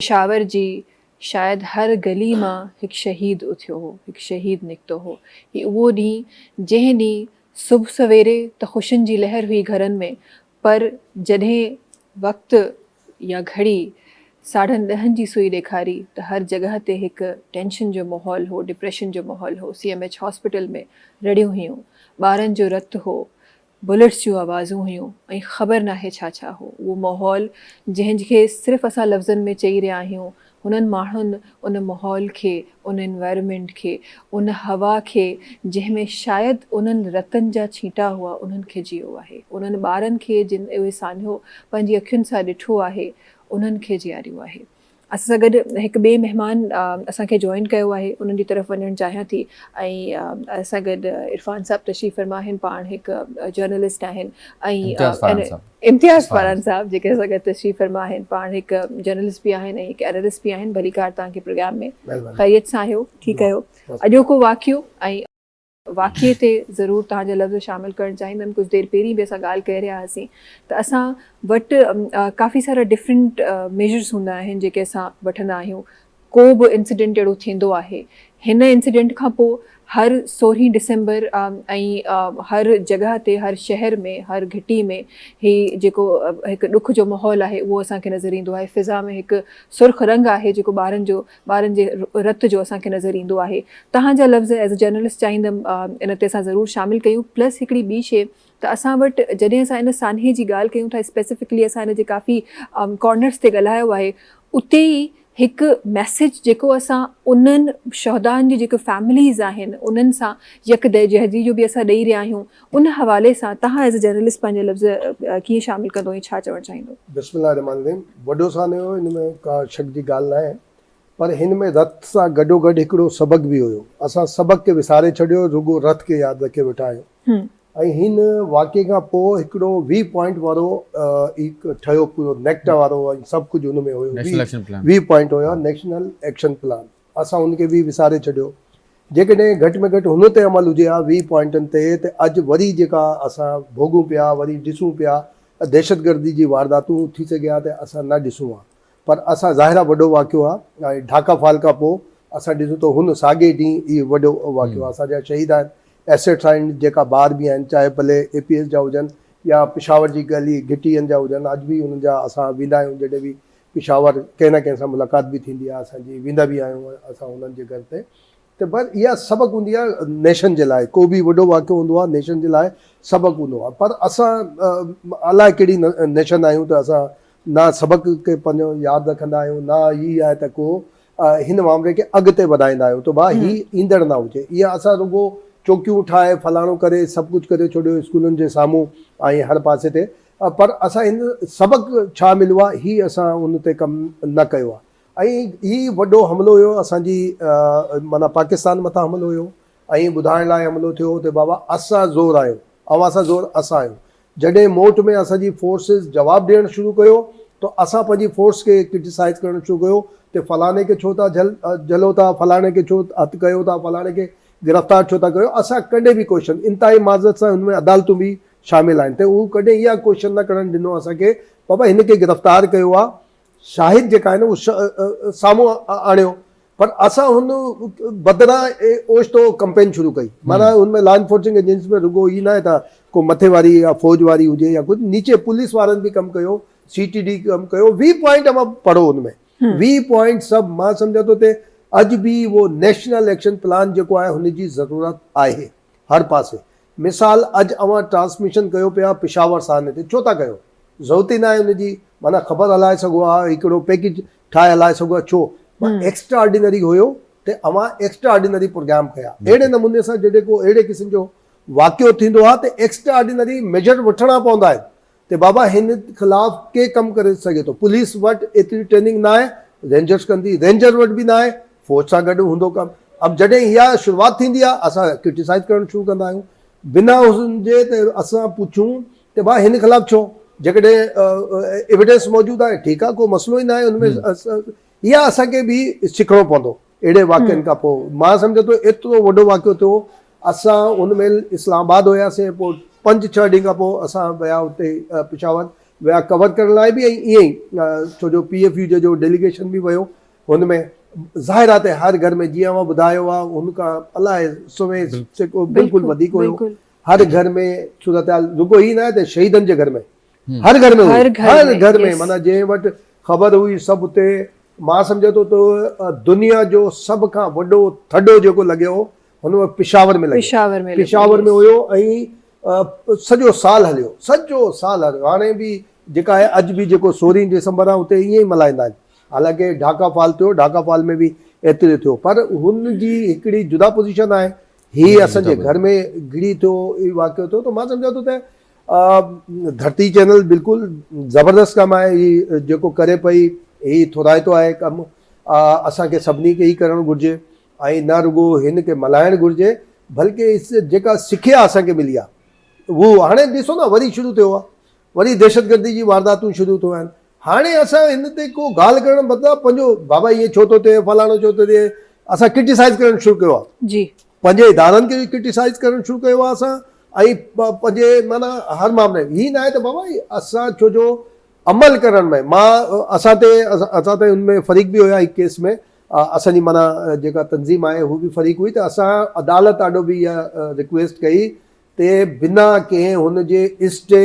پشاور جي شايد هر گلي مان هڪ شهيد اٿيو هو، هڪ شهيد نڪتو هو. هي اهو ڏينهن، جنهن ڏينهن صبح سويري ته خوشين جي لهر هئي گهرن ۾، پر جڏهن وقت يا گهڙي ساڍن ڏهن جي سوئي ڏيکاري ته هر جڳهه تي هڪ ٽينشن جو ماحول هو، ڊپريشن جو ماحول هو، سي ايم ايڇ هاسپيٽل ۾ رڙيون هيون، ٻارن جو رت هو، بلٽس جون آوازون هيون ۽ خبر ناهي ڇا ڇا هو اهو ماحول جنهن کي صرف اسان لفظن ۾ چئي رهيا آهيون هنن ماڻهن ان ماحول کي ان Environment کي ان هوا کي جنهن ۾ شايد انهن رتن جا ڇيٽا هئا انهن کي جيئو آهي انهن ٻارن کي جن اهي سانحو پنهنجي اکين سان ڏٺو آهي انهن کي جياريو آهي اسان سان گڏ هڪ ٻئي مهمان اسان کي جوائن ڪيو آهي انهن جي طرف وڃڻ چاهيان ٿي ۽ اسان سان گڏ عرفان صاحب تشريف فرما آهن پاڻ هڪ جرنلسٽ آهن ۽ امتياز فاران صاحب جيڪي اسان سان گڏ تشريف فرما آهن پاڻ هڪ جرنلسٽ به آهن ۽ هڪ اينالسٽ به آهن ڀليڪار توهان کي پروگرام ۾ خيريت سان آهيو ٺيڪ آهيو اڄوڪو واقعو ۽ واقعي تي ضرور توهان جا لفظ شامل ڪرڻ چاهيندم ڪجهه دير پهرين به اسان ڳالهه ڪري رهيا هئاسين ته اسان وٽ ڪافي سارا ڊفرنٽ ميجرس هوندا آهن جيڪي اسان وٺندا آهيون ڪو به انسيڊنٽ اهڙو ٿيندو آهي هن انسيڊنٽ کان پوء هر سورهين ڊسمبر ۽ هر جڳهه تي هر شهر ۾ هر گهٽي ۾ هي جيڪو هڪ ڏک جو ماحول آهي اهو اسان کي نظر ايندو آهي فضا ۾ هڪ سرخ رنگ آهي جيڪو ٻارن جو ٻارن جي رت جو اسان کي نظر ايندو آهي توهان جا لفظ ايز اي جرنلسٽ چاهيندم ان تي اسان ضرور شامل ڪيون پلس هڪڙي ٻي شي ته اسان وٽ جڏهن اسان ان سانحي جي ڳالهه ڪيون ٿا اسپيسفڪلي اسان ان جي ڪافي ڪارنرس تي ڳالهايو آهي اتي ئي هڪ ميسيج جيڪو اسان انهن شهدائن جي جيڪي فيمليز آهن انهن سان يڪ دهجهدي جو به اسان ڏئي رهيا آهيون ان حوالي سان توهان ايز اي جرنلسٽ پنهنجا لفظ ڪيئن شامل ڪندو ۽ ڇا چوڻ چاهيندو؟ بسم الله الرحمٰن الرحيم وڏو سانحو ان ۾ ڪا شڪ جي ڳالهه ناهي پر هن ۾ رٿ سان گڏوگڏ هڪڙو سبق به هيو اسان سبق کي وساري ڇڏيو رڳو رٿ کي ياد رکي ويٺا آهيون ۽ هن واقعي کان پوء هڪڙو وي پوائنٽ وارو ئي ٺهيو پورو نيڪٽا وارو ۽ سڀ ڪجهه ان ۾ هيو وي پوائنٽ هيا نيشنل ايڪشن پلان اسان ان کي به وساري ڇڏيو. جيڪڏهن گهٽ ۾ گهٽ هن تي عمل هجي ها ويهه پوائنٽن تي ته اڄ وري جيڪا اسان ڀوڳون پيا وري ڏسون پيا ته دهشتگردي جي وارداتون ٿي سگهي ها ته اسان نه ڏسون ها پر اسان ظاهر آهي وڏو واقعو آهي ۽ ڍاڪا فال کان پوء اسان ڏسون ٿو هن ساڳئي ڏينهن اهي وڏو واقعو آهي اسان جا شهيد آهن ايسيٽس آهن جيڪا ٻار به آهن چاهي ڀلي اي پي ايس جا هجن يا پشاور جي گلي گهٽين جا هجن اڄ به انهن جا اسان ويندا آهيون جڏهن به پشاور ڪنهن نه ڪنهن سان ملاقات به ٿيندي آهي اسان جي ويندا به آهيون اسان انهن جي گهر تي ته بس اها سبق هوندي آهي نيشن جي لاء ڪو به وڏو واقعو هوندو آهي نيشن جي لاء سبق هوندو آهي پر اسان الاء ڪهڙي نيشن آهيون ته اسان نه سبق کي پنهنجو ياد رکندا آهيون نه هي آهي ته ڪو هن معاملي کي اڳتي وڌائيندا آهيون ته ڀاء هي ايندڙ نه هجي اها اسان رڳو چوڪيون ٺاهي فلاڻو ڪري سڀ ڪجهه ڪري ڇڏيو اسڪولن جي سامهون ۽ هر پاسي تي پر اسان هن سبق ڇا مليو آهي هي اسان ان تي ڪم نه ڪيو آهي ۽ هي وڏو حملو هيو اسان جي معنيٰ پاڪستان مٿان حملو هيو ۽ ٻڌائڻ لاء حملو ٿيو ته بابا اسان زور آهيو اوهان سان زور اسان آهيو جڏهن موٽ ۾ اسان جي فورسز جواب ڏيڻ شروع ڪيو ته اسان پنهنجي فورس کي ڪرٽيسائز ڪرڻ شروع ڪيو ته فلاڻي کي ڇو ٿا جهلو ٿا فلاڻي کي ڇو هٿ ڪيو ٿا فلاڻي کي گرفتار ڇو ٿا ڪيو اسان ڪڏهن به ڪوشن انتهائي معذرت سان هن ۾ عدالتون به شامل آهن تنهن هو ڪڏهن اها ڪوشش نه ڪرڻ ڏنو اسان کي بابا هن کي گرفتار ڪيو آهي شاهد جيڪا آهي نه اهو سامهون آڻيو پر اسان هن بدران اوچتو ڪمپين شروع ڪئي معنيٰ هن ۾ لا انفورسنگ ايجنسي ۾ رڳو هي ناهي ته ڪو مٿي واري يا فوج واري هجي يا ڪجهه نيچي پوليس وارن به ڪم ڪيو سي ٽي ڊي ڪم ڪيو وي پوائنٽ اوهان پڙهو هن ۾ وي پوائنٽ سڀ مان سمجهان ٿو ته اڄ به اهو نيشنل ايڪشن پلان جيڪو آهي هن جي ضرورت آهي هر پاسي مثال اڄ اوهان ٽرانسميشن ڪيو پيا پشاور سانحي تي ڇو ٿا ڪيو ضرورت ئي ناهي ان جي معنيٰ خبر هلائي سگهو ها هڪڙو پيڪيج ٺاهي هلائي سگهو ها ڇو مان ايڪسٽرا آرڊينري هيو ته اوهان ايڪسٽرا آرڊينري پروگرام ڪيا اهڙي نموني سان جڏهن ڪو اهڙي قسم جو واقعو ٿيندو ها ته ايڪسٽرا آرڊينري ميجر وٺڻا پوندا آهن ته بابا هن خلاف ڪي ڪم ڪري سگهي ٿو پوليس وٽ ايتري ٽريننگ ناهي رينجرس ڪندي رينجر وٽ به ناهي فوج سان گڏ هوندو ڪم اب جڏهن اها شروعات ٿيندي آهي اسان ڪرٽيسائز ڪرڻ شروع ڪندا آهيون بنا حسن جي ته اسان پڇون ته ڀا هن خلاف ڇو جيڪڏهن ايويڊنس موجود آهي ٺيڪ آهي ڪو مسئلو ئي ناهي ان ۾ اها اسان کي به سکڻو پوندو. اهڙي واقعن کان پوء مان سمجهان ٿو ايترو وڏو واقعو ٿيو اسان ان مهل اسلام آباد هياسين پوء پنج ڇهه ڏينهن کان پوء اسان ويا اتي پشاور ويا ڪور ڪرڻ لاء به ۽ ائين ئي ڇو جو پي ايف يو جي جو ڊيليگيشن به ويو هن ۾ ظاهر آهي ته هر گهر ۾ جيئن اوهان ٻڌايو آهي هن کان الائي سوين سيڪو بلڪل وڌيڪ هيو هر گهر ۾ صورتحال رڳو هي نه آهي ته شهيدن جي گهر ۾ هر گهر ۾ هئي هر گهر ۾ معنيٰ جنهن وٽ خبر هئي سڀ اتي مان سمجهان ٿو ته دنيا جو سڀ کان وڏو ٿڏو جيڪو لڳيو هو هن وقت پشاور ۾ لڳيو پشاور ۾ هيو ۽ سڄو سال هليو سڄو سال هليو هاڻي به جيڪا آهي اڄ به جيڪو سورهين ڊسمبر آهي اتي ائين ئي ملهائيندا آهن حالانڪه ڍاڪا فال ٿيو ڍاڪا فال ۾ به ايتري ٿيو پر هن جي هڪڙي جدا پوزيشن آهي هي اسان جي گهر ۾ گڙي ٿيو واقعو ٿيو ته مان سمجهان ٿو ته ڌرتي چينل بلڪل زبردست ڪم آهي هي جيڪو ڪري پئي هي ٿورائتو آهي ڪم اسان کي سڀني کي هي ڪرڻ گهرجي ۽ نه رڳو هن کي ملهائڻ گهرجي بلڪه اس جيڪا سکيا اسان کي ملي آهي هو هاڻي ڏسو نه وري شروع ٿيو آهي وري دهشتگردي جي وارداتون شروع ٿيون آهن هاڻي اسان هن تي ڪو ڳالهه ڪرڻ بدران پنهنجو بابا ائين ڇو ٿو ٿئي فلاڻو ڇو ٿو ٿئي اسان ڪرٽيسائز ڪرڻ شروع ڪيو آهي پنهنجي ادارن کي به ڪرٽيسائز ڪرڻ شروع ڪيو آهي اسان ۽ پنهنجي معنيٰ هر معاملي ۾ هي ناهي ته بابا اسان ڇو جو عمل ڪرڻ ۾ مان اسان تي اسان تي ان ۾ فريق به هيا هڪ ڪيس ۾ اسان جي معنيٰ جيڪا تنظيم آهي هو به فريق هئي ته اسان عدالت آڏو به اها رڪويسٽ ڪئي ته بنا ڪنهن هن جي اسٽي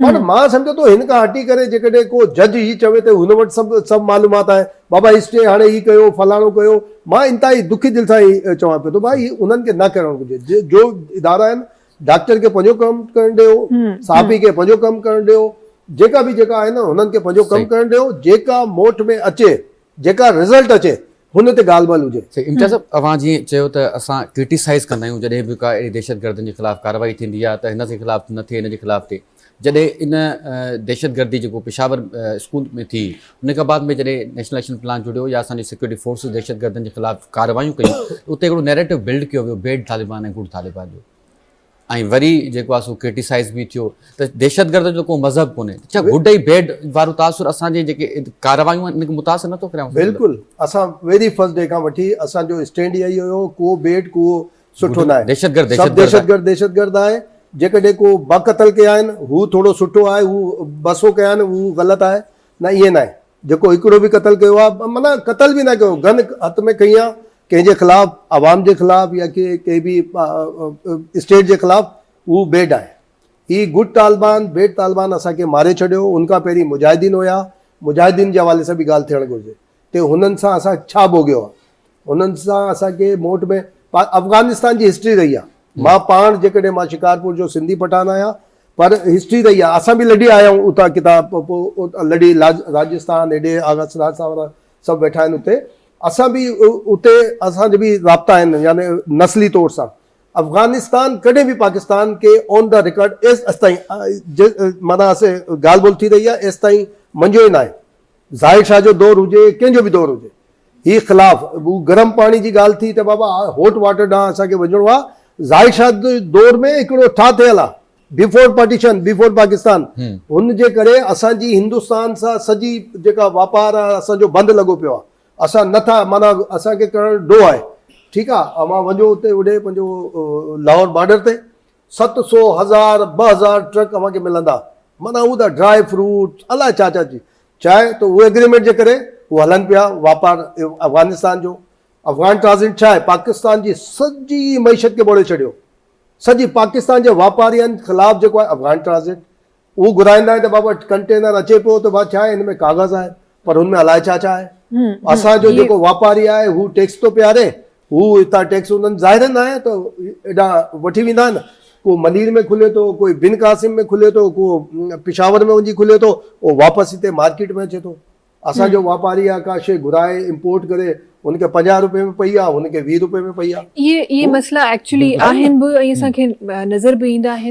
پر مان سمجهان ٿو هن کان هٽي ڪري جيڪڏهن ڪو جج هي چوي ته هن وٽ سڀ سڀ معلومات آهن بابا هي اسٽي هاڻي هي ڪيو فلاڻو ڪيو مان انتهائي دکي دل سان هي چوان پيو ٿو ڀاء هي انهن کي نه ڪرڻ گهرجي جو ادارا آهن ڊاڪٽر کي پنهنجو ڪم ڪرڻ ڏيو صحافي کي پنهنجو ڪم ڪرڻ ڏيو جيڪا به جيڪا آهن هنن کي پنهنجو ڪم ڪرڻ ڏيو جيڪا موٽ ۾ اچي جيڪا رزلٽ اچي هن تي ڳالهه ٻولهه هجي. سائين امتياز صاحب اوهان جيئن چيو ته اسان ڪرٽيسائيز ڪندا آهيون جڏهن به ڪا اهڙي دهشت گردن جي خلاف ڪارروائي ٿيندي آهي ته هن جي خلاف نه ٿئي هن جي خلاف ٿئي جڏهن ان دهشت گردي جيڪو پشاور اسڪول ۾ ٿي ان کان بعد ۾ جڏهن نيشنل ايڪشن پلان جڙيو يا اسان جي سيڪيورٽي فورسز دهشت گردن جي خلاف ڪارروايون ڪيون اتي هڪڙو نيريٽو بلڊ ڪيو ويو بيڊ طالبان ۽ گڊ طالبان جو ۽ وري جيڪو آهي سو ڪرٽيسائز به ٿيو ته دهشتگرد جو ڪو مذهب ڪونهي ته ڇا گڊ ۽ بيڊ وارو تاثر اسان جي جيڪي ڪارروايون آهن ان کي متاثر نٿو ڪري بلڪل اسان ويري فرسٽ ڊي کان وٺي اسان جو اسٽينڊ اهو ئي هيو ڪو بيڊ ڪو سٺو ناهي دهشتگرد سڀ دهشتگرد دهشتگرد آهي جيڪڏهن ڪو با قتل ڪيا آهن هو ٿورو سٺو آهي هو ٻه سو ڪيا آهن هو غلط آهي نه ائين ناهي جيڪو هڪڙو به قتل ڪيو آهي معنيٰ قتل به ناهي ڪيو گن هٿ ۾ کنئي آهي ڪنهن جي خلاف عوام جي خلاف يا ڪنهن به اسٽيٽ جي خلاف هو بيڊ آهي هي گڊ طالبان بيڊ طالبان اسان کي ماري ڇڏيو ان کان پهرين مجاهدين هيا مجاهدين جي حوالي سان به ڳالهه ٿيڻ گهرجي ته هنن سان اسان ڇا ڀوڳيو آهي هنن سان اسان کي موٽ ۾ افغانستان جي هسٽري رهي آهي مان پاڻ جيڪڏهن مان شڪارپور جو سنڌي پٺان آهيان پر هسٽري رهي آهي اسان به لڏي آيا آهيون اتان ڪتاب لڏي راجستان هيڏي آغا سراج ساورا سڀ ويٺا آهن اتي اسان به اتي اسان جي به رابطا آهن يعني نسلي طور سان افغانستان ڪڏهن به پاڪستان کي اون دا رڪارڊ ايس استائين مانا اسي ڳالهه ٻولهه ٿي رهي آهي ايستائين منجهيو ئي نه آهي ظاهر شاهه جو دور هجي ڪنهن جو به دور هجي هي خلاف گرم پاڻي جي ڳالهه ٿي ته بابا هوٽ واٽر ڏانهن اسان کي وڃڻو آهي ظاهر شاهه دور ۾ هڪڙو ٺاهه ٿيل آهي بيفور پارٽيشن بيفور پاڪستان هن جي ڪري اسان جي هندستان سان سڄي جيڪا واپار آهي اسان جو بند لڳو پيو آهي اسان نه ٿا معنيٰ اسان کي ڪرڻ ڏو آهي ٺيڪ آهي اوهان وڃو اتي هوڏي پنهنجو لاهور بارڊر تي ست سو هزار ٻه هزار ٽرڪ اوهان کي ملندا معنيٰ هو ته ڊرائي فروٽ الاء ڇا ڇا چي چاهي ته اهي اگريمينٽ جي ڪري هو هلن پيا واپار افغانستان جو افغان ٽرانزيٽ ڇا آهي پاڪستان جي سڄي معيشت کي ٻوڙي ڇڏيو سڄي پاڪستان جي واپارين خلاف جيڪو آهي افغان ٽرانزٽ اهو گهرائيندا آهن ته بابا ڪنٽينر اچي پيو ته ڀا ڇا آهي هن ۾ ڪاغذ آهي پر هن ۾ الائي ڇا ڇا آهي اسان جو جيڪو واپاري آهي هو ٽيڪس ٿو پياري هو هتان ٽيڪس انهن ظاهر نه آهي ته ايڏا وٺي ويندا آهن ڪو منير ۾ کلي ٿو ڪوئي بن قاسم ۾ کلي ٿو ڪو پشاور ۾ وڃي کلي ٿو او واپس هتي مارڪيٽ ۾ اچي ٿو. اسان جو واپاري آ ڪا شي گهرائي امپورٽ ڪري ان کي پنجاهه روپئي ۾ پئي آ ان کي ويهه روپئي ۾ پئي آ اهي اهي مسئلا ايڪچولي آهن به ۽ اسان کي نظر به ايندا آهن